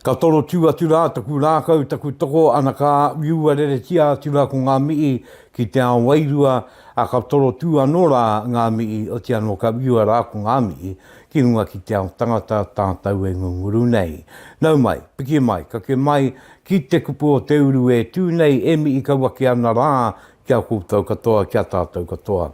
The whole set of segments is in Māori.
Ka toro tū atu rā taku rākau, taku toko, ana ka whiua reretia atu rā ko ngā mihi ki te ao wairua, a ka toro tū anō rā ngā mihi, oti anō ka whiua rā ko ngā mihi ki runga ki te ao tangata tātau e ngunguru nei. Nau mai, piki mai, kake mai ki te kupu o te uru e tū nei e mihi kau ake ana rā Ki a koutou katoa, ki a tātou katoa.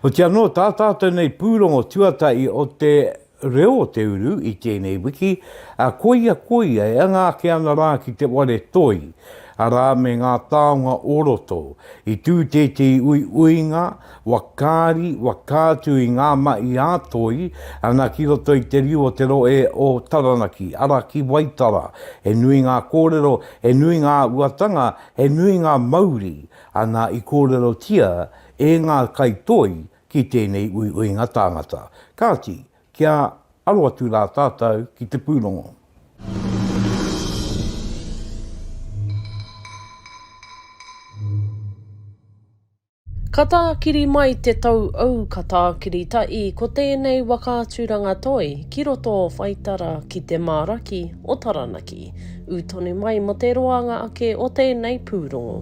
Hoti anō, tā tātou nei pūrongo tuatahi o te reo o te uru i tēnei wiki, ā, koia, koia, e anga ake ana rā ki te ware toi, arā, me ngā taonga o roto. I tū tētehi uiuinga, wakaari, waka atu i ngā mahi ā toi, ana ki roto i te riu o te rohe o Taranaki, arā, ki Waitara. He nui ngā kōrero, he nui ngā āhuatanga, He nui ngā mauri ana i kōrerotia e ngā kaitoi ki tēnei uiuinga tāngata. Kāti, kia aro atu rā tātou ki te pūrongo. Ka tākiri mai te tou ou ka tākiri ta i ko tēnei waka aturanga toi ki roto o Whaitara ki te mā raki o Taranaki. U tonu mai mo te roanga ake o tēnei pūrongo.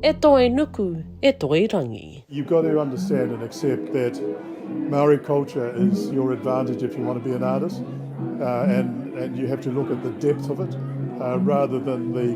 E toi nuku, e toi rangi. You've got to understand and accept that Maori culture is your advantage if you want to be an artist and and you have to look at the depth of it rather than the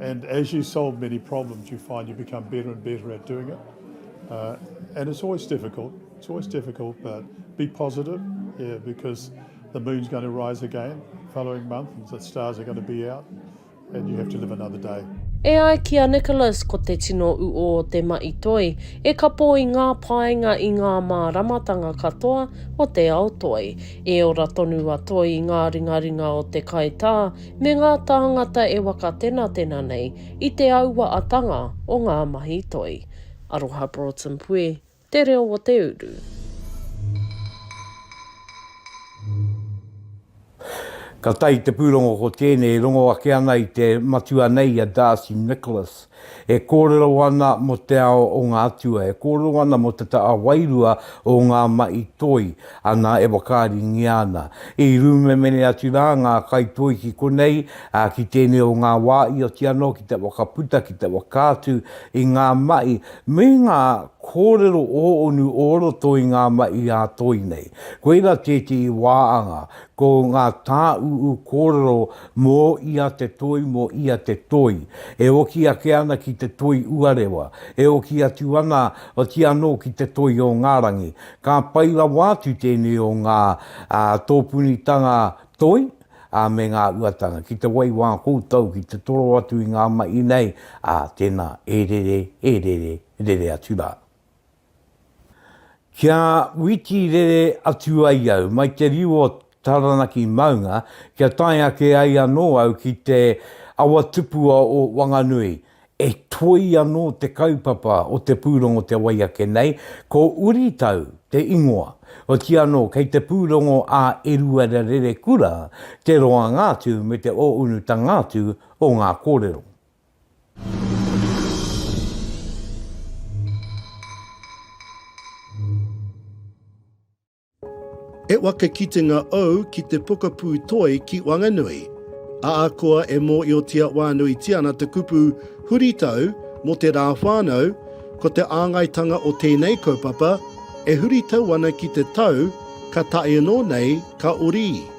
And as you solve many problems you find you become better and better at doing it. Uh, and it's always difficult, it's always difficult, but be positive, yeah, because the moon's going to rise again following month and the stars are going to be out and you have to live another day. E ai ki a Nicholas ko te tino uo o te maʻi toi e kapo i ngā painga i ngā māramatanga katoa o te ao toi. E ora tonu a Toi i ngā ringaringa o te kaitā, me ngā tāngata e wakatenatena nei i te aua atanga o ngā mahi toi. Aroha Broughton Puē, Te Reo o te Uru. Ka tae te pūrongo ko tēnei e rongo ake ana i te matua nei a Darcy Nicholas E kōrero ana mō te ao o ngā atua, e kōrero ana mō te taha wairua o ngā mahi toi, ana e whakaaringia ana. I rūmemene atu rā ngā kaitoi ki konei, ā, ki tēnei o ngā wā i oti anō ki te whakaputa, ki te whakaatu i ngā mahi me ngā kōrero ō-onu o roto i ngā mahi ā-toi nei. Koirā tētehi wā anga, ko ngā tāūū kōrero Mō ia te toi, mō ia te toi. E oki ake ana ki te toi uarewa. E oki atu ana, otii anō ki te toi o ngā rangi. Ka pai rawa atu tēnei o ngā tōpunitanga toi me ngā uatanga ki te waiwā koutou ki te toro atu i ngā mahi nei, ā, tēnā, e rere, e rere, rere atu rā. Kia witi rere atu ai au mai te riu o Taranaki maunga kia tae ake ai anō au ki te awa tupua o Wanganui, e toi anō te kaupapa o te pūrongo te wai ake nei, ko Uritau te ingoa. Otiia anō, kei te pūrongo a Eruera Rerekura te roanga atu me te ōunutanga atu o ngā kōrero. E waka kitenga ou ki te pokapū toi ki Wanganui. Ahakoa e mōiotia wānuitia ana te kupu huritau mō te rā whānau, ko te āngaitanga o tēnei kaupapa e huritau ana ki te tau ka tae anō nei ka orī.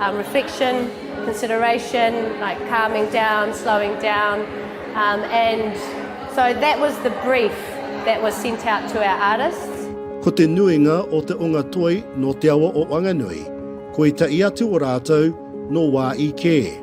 Um, reflection, consideration, like calming down, slowing down, um, and so that was the brief that was sent out to our artists. Ko te nuinga o te onga toi nō te awa o Wanganui, ko etahi atu o rātou nō Wāi kē.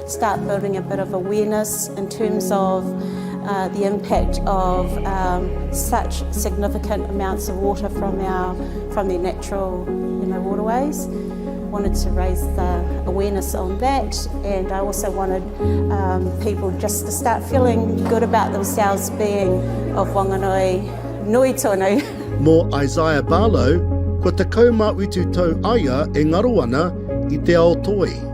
start building a bit of awareness in terms of the impact of such significant amounts of water from our from the natural you know waterways wanted to raise the awareness on that and I also wanted um, people just to start feeling good about themselves being of Wanganui nui tonu Mō Isaiah Barlow, kua te kaumā utu tau aia e ngaro ana i te ao toi.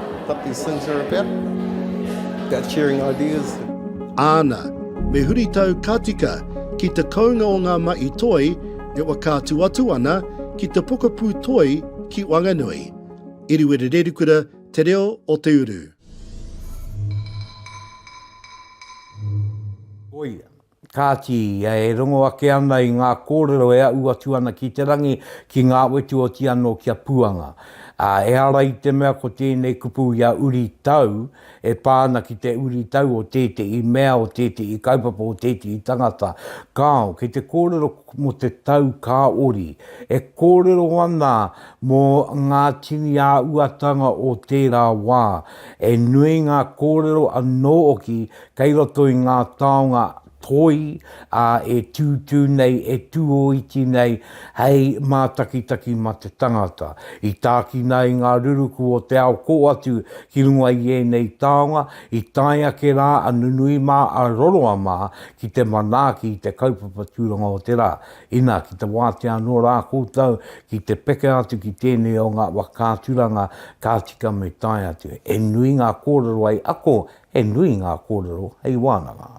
What these things are about. About sharing ideas. Āna, me huritau ka tika ki te kounga o ngā mahi toi e whakaatu atu ana ki te pokapū toi ki Wanganui. Iriwiri Rerikura, Te Reo o Te Uru. Koia. Kāti, e rongo ake ana i ngā kōrero e aʻu atu ana ki te rangi, ki ngā wetu oti anō ki a Puanga. Ā, ehara i te mea ko tēnei kupu i a Uri Tau, e pā ana ki te uri tau o tētehi mea, o tētehi kaupapa, o tētehi tangata. Kāo, kei te kōrero mō te tau kāori. E kōrero ana mō ngā tini āhuatanga o tērā wā. He nui ngā kōrero anō hoki Kei roto i ngā taonga toi, ā, e tūtū nei, e tūōiti nei hei mātakitaki mā te tangata. I tākina ai ngā ruruku o te ao kō atu ki runga i ēnei taonga, i tae ake rā a nunui mā, a roroa mā ki te manaaki i te kaupapa tūranga o te rā. Inā, ki te wātea anō rā koutou ki te peka atu ki tēnei o ngā whakaaturanga ka tika me tae atu. He nui ngā kōrero hei ako He nui ngā kōrero hei wānanga.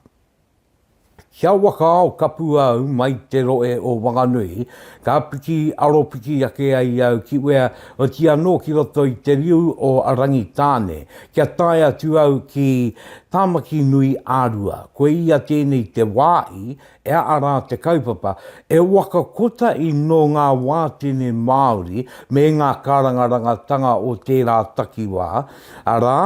Ki a Wakaao kapu au mai te roe o Wanganui, ka piki aropiki ake ai au ki wea oti anō ki roto i te riu o Rangitāne, kia tae atu au ki Tāmaki nui a Rua. Koe ia tēnei te wāhi e a rā te kaupapa, e waka kota i nō ngā wātene Māori me ngā karangarangatanga o tērā takiwā, arā,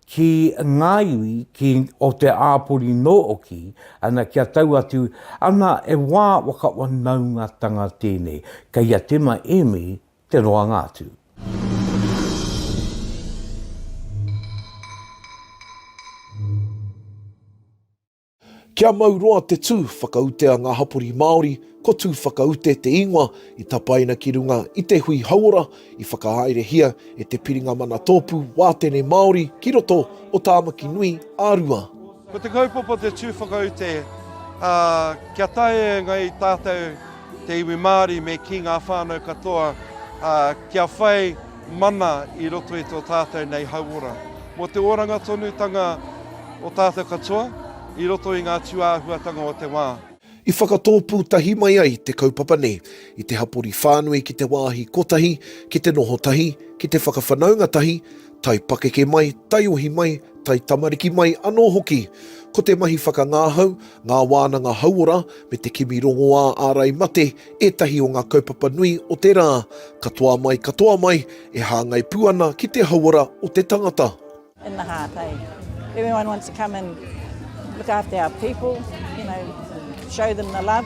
ki ngā iwi ki o te āpori nōoki ana kia tau atu ana e wā whakawanaungatanga tēnei kei a Tema Emi te roanga atu. Kia mau roa te tū whakaute a ngā hapori Māori, ko Tū Whakaute te ingoa i tapaina ki runga i te hui hauora i whakahaerehia e te Piringa Mana Tōpū Wātene Māori ki roto o Tāmaki Nui a Rua. Ko te kaupapa te Tū Whakaute, ā, kia taea e ngai tātou te iwi Māori me kī ngā whānau katoa, ā, kia whai. Mana i roto i tō tātou nei hauora. Mō te oranga tonutanga o tātou katoa i roto i ngā tūāhuatanga o te wā. I whakatōpū tahi mai ai te kaupapa nei i te hapori whānui ki te wāhi kotahi, ki te noho tahi, ki te whakawhanaunga tahi, tae pakeke mai, taiohi mai, tae tamariki mai anō hoki. Ko te mahi whakangāhau, Ngā Wānanga Hauora me te kimi rongoā ārai mate ētahi o ngā kaupapa nui o te rā, katoa mai katoa mai, e hāngai pū ana ki te hauora o te tangata. in the heart hey everyone wants to come and look after our people you know show them the love.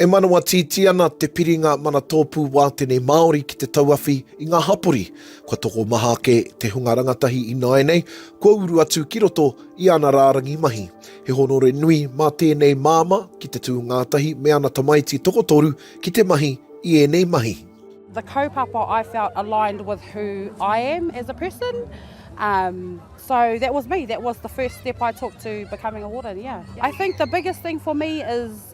E manawa tītī ana te piringa manatōpū wātene Māori ki te tauawhi i ngā hapori. Kua tokomaha ake te hunga rangatahi ināianei kua uru atu ki roto i ana rārangi mahi. He honore nui mā tēnei māmā ki te tū ngātahi me ana tamaiti tokotoru ki te mahi i ēnei mahi. The kaupapa I felt aligned with who I am as a person um so that was me, that was the first step I took to becoming a warden, yeah. I think the biggest thing for me is.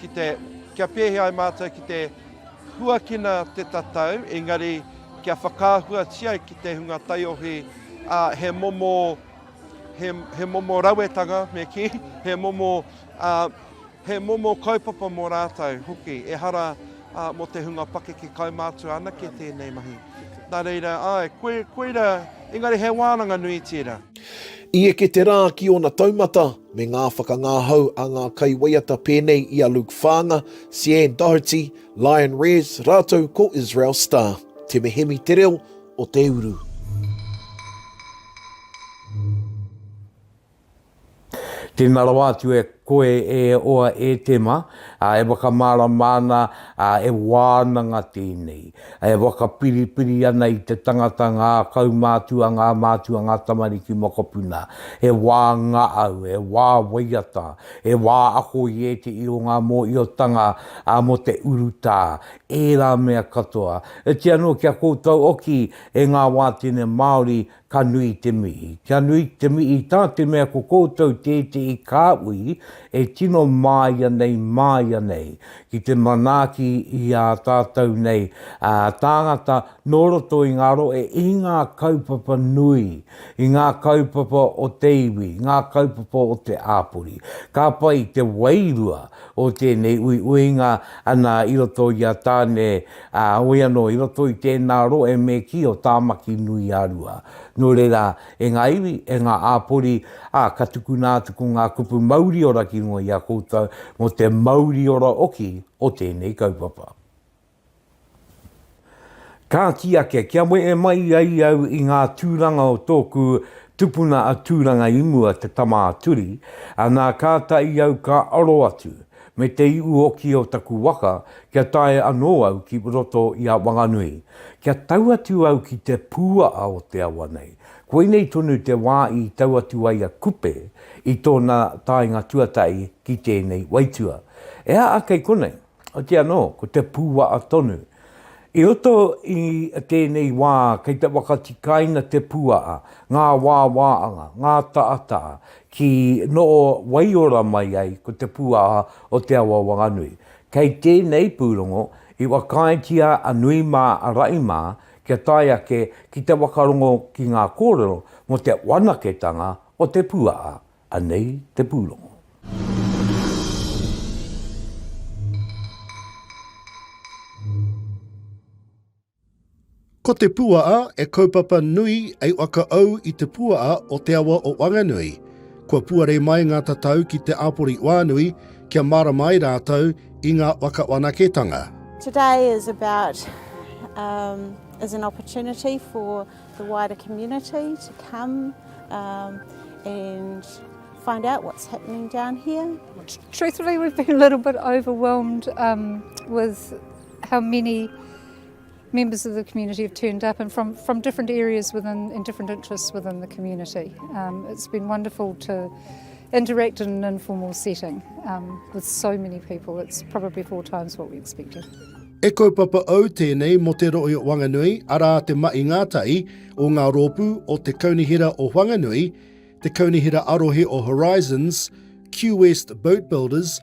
ki te, kia pēhea ai mātou ki te huakina te tatau, engari kia whakaahuatia ai ki te hunga taiohi, ā, he momo, he, he momo rawetanga, me kī, he momo, ā, he momo kaupapa mō rātou hoki, ehara ā, mō te hunga pakeke kaumātua anake tēnei mahi. Nā reira, āe, koe, koira, engari he wānanga nui tērā. I eke te rā ki ōna taumata, me ngā whakangāhau a ngā kaiwaiata pēnei i a Luke Whaanga, Sian Doherty, Lion Rez rātou ko Israel Star. Te mehemi te reo o te uru. Tēnā rawa atu e koe e oa e Tema, e whakamārama ana, e wānanga tēnei. E whakapiripiri ana i te tangata ngā kaumātua, ngā mātua, ngā tamariki mokopuna. He wā ngaau, he wā waiata, he wā ako i ētehi o ngā mōhiotanga mō te urutā, ērā mea katoa. Heoti anō kia koutou oki e ngā wātene Māori Ka nui te mihi. Kia nui te mihi tā te mea ko koutou tētehi kāhui e tino māia nei, māia nei, ki te manaaki i ā tātou nei tāngata nō roto i ngā rohe, i ngā kaupapa nui, i ngā kaupapa o te iwi, ngā kaupapa o te āpori. Ka pai te wairua o tēnei uiuinga ana i roto i a Tāne Heoi anō, i roto i tēnā rohe me kī o Tāmaki-nui-a-Rua. Nō reira, e ngā iwi, e ngā āpori, ā, ka tukuna atu ko ngā kupu mauriora ki runga i a koutou mō te mauriora oki o tēnei kaupapa. Ka kī ake, kia wehe mai ai au i ngā tūranga o tōku tupuna a Tūranga-i-mua, te Tama-a-Turi, anā, kātahi au ka aro atu. me te iuoki o taku waka kia tae anō au ki roto i a Wanganui, kia tau atu au ki te pūaha o te awa nei. Koinei tonu te wā i tau atu ai a Kupe i tōna taenga tuatahi ki tēnei waitua. E aha kei konei? Otiia anō, ko te pūaha tonu. I roto i tēnei wā kei te whakatikaina te pūaha, ngā wāwāanga, ngā taataha, Ki noho waiora mai ai ko te pūaha o Te Awa Whanganui. Kei tēnei pūrongo i whakaaetia a nui mā a raʻi mā kia tae ake ki te whakarongo ki ngā kōrero mō te whanaketanga o te pūaha. Anei te pūrongo. Ko te puaa e kaupapa nui ei whakaau i te puaa o te awa o Wanganui. Kua puare mai nga tatau ki te apori oanui kia marama ai ratou i nga wakawanaketanga. Today is about um is an opportunity for the wider community to come um and find out what's happening down here. Truthfully we've been a little bit overwhelmed um with how many members of the community have turned up and from, from different areas within and different interests within the community. Um, it's been wonderful to interact in an informal setting um, with so many people. It's probably four times what we expected. E kaupapa au tēnei mo te roi o Wanganui, arā te mahi ngātahi o ngā rōpū o te Kaunihera o Wanganui, te Kaunihera Arohe o Horizons, Q-West Boat Builders,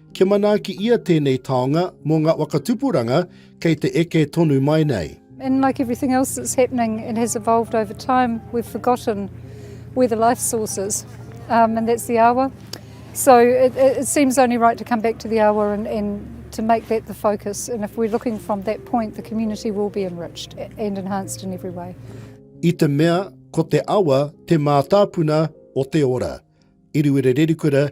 Kia manaaki ia tēnei taonga mō ngā waka tupuranga kei te eke tonu mai nei. And like everything else that's happening and has evolved over time, we've forgotten where the life source is, um, and that's the awa. So it, it seems only right to come back to the awa and, and to make that the focus. And if we're looking from that point, the community will be enriched and enhanced in every way. I te mea, ko te awa te mātāpuna o te ora. Iriwere Rerikura,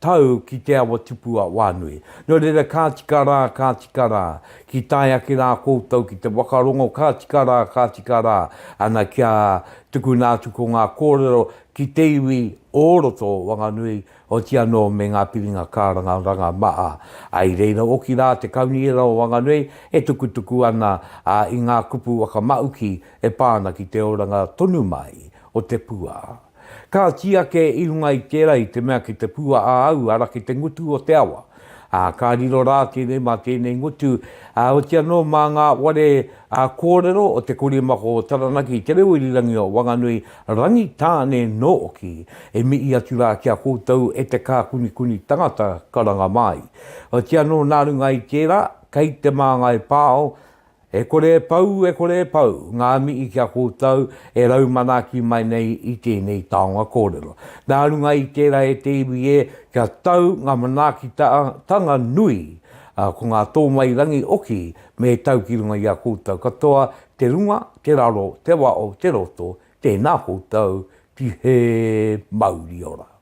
tau ki te awa tupu a Wānui. Nō reira ka tika rā, ka tika rā, ki tae ake rā koutou ki te whakarongo ka tika rā, ka tika rā, ana kia tukuna atu ko ngā kōrero ki te iwi o roto o Wanganui, oti anō me ngā piringa kāranga ranga maha. I reira hoki rā te Kaunihera o Wanganui e tukutuku ana i ngā kupu whakamahuki e pā ana ki te oranga tonu mai o te pua. Ka kī ake i runga i tērā i te mea ki te pua a au ara ki te ngutu o te awa, ā, ka riro rā tēnei mā tēnei ngutu, ā, oti anō mā ngā ware, ā, kōrero o te korimako o Taranaki i te reo irirangi o Wanganui, Rangitāne nōki, e mihi atu rā ki a koutou e te kākunikuni tangata karanga māi. Oti anō nā runga i tērā, kei te māngai pāo, E kore e pau, e kore e pau, ngā mihi ki a koutou e rau manaaki mai nei i tēnei taonga kōrero. Nā runga i tērā e te iwi e, kia tau ngā manaakitanga nui, ā, ko ngā tōmairangi oki me tau ki runga i a koutou katoa, te runga, te raro, te wao, te roto, tēnā koutou, tihē, mauri ora.